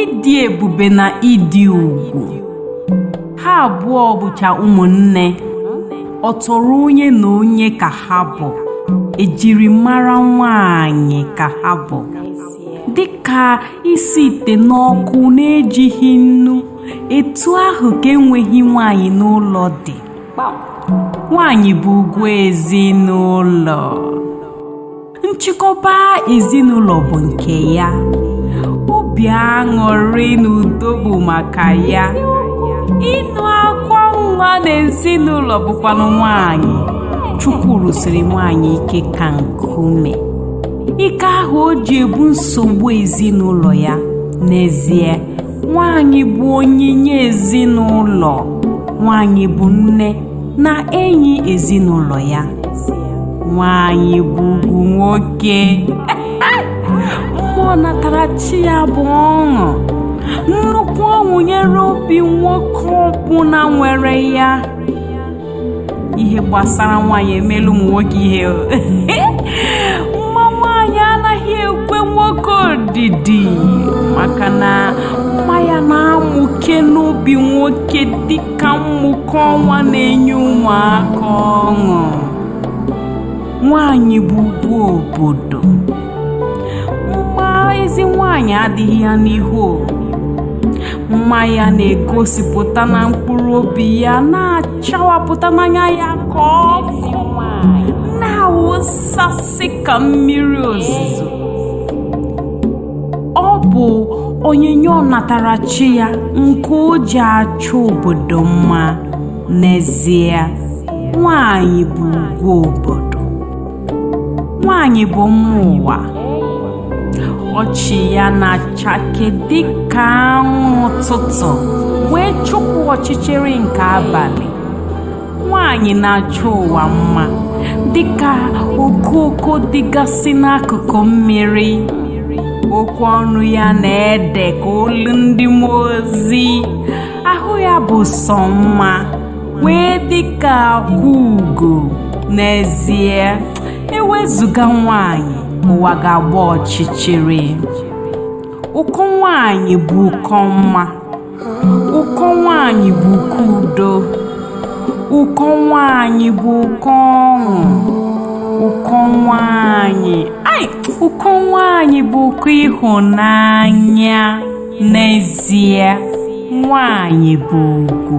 ịdị ebube na ịdị ugwu ha abụọ bụcha ụmụnne ọ tọrọ onye na onye ka ha bụ ejiri mara nwanyị ka ha bụ dịka isi ite n'ọkụ na-ejighị nnu etu ahụ ka enweghị nwanyị n'ụlọ dị nwanyị bụ ugwu ezinụlọ nchịkọba ezinụlọ bụ nke ya obi aṅụrị na udo bụ maka ya ịnụ akwa nwa na ezinụlọ bụkwanụ nwanyị chukwu rụsiri nwanyị ike ka nkume ike ahụ o ji ebu nsogbu ezinụlọ ya n'ezie nwanyị bụ onyinye ezinụlọ nwanyị bụ nne na enyi ezinụlọ ya nwaanyị bụ ugwu nwoke mma ọnatarachi ya bụ ọṅụ nnukwu ọṅụ nyere obi nwoke ọbụla nwere ya ihe gbasara nwaanyị emeela ụmụ nwoke ihe mma nwaanyị anaghị ekwe nwoke odidi maka na mma ya na-amụke n'obi nwoke dị ka mmụke ọnwa na-enye ụmụaka ọṅụ nwanyị bụ ugwu obodo mma ezi nwanyị adịghị ya n'ihu mma ya na-egosipụta na mkpụrụ obi ya na-achawapụta n'anya ya ka ọkụ na-awụsasị ka mmiri ozuzo ọ bụ onyinye ọnatarachi ya nke o ji achọ obodo mma n'ezie nwanyị bụ ugwu obodo nwanyị bụ mma ụwa ọchị ya na-achake dịka anwụ ụtụtụ wee chụpụ ọchịchịrị nke abalị nwaanyị na-achọ ụwa mma dịka okooko dịgasị n'akụkụ mmiri okwu ọnụ ya na-ede ka olu ndị mmụọ ozi ahụ ya bụ sọ mma wee dịka akwa ugo n'ezie ewezụga nwaanyị ụwa ga-agba ọchịchịrị ụkọ nwaanyị bụ ụkọ mma ụkọ nwaanyị bụ ụkọ udo ụkọ nwaanyị bụ ụkọ ọṅụ ụkọ nwaanyị ai ụkọ nwaanyị bụ ụkọ ịhụnanya n'ezie nwaanyị bụ ugwu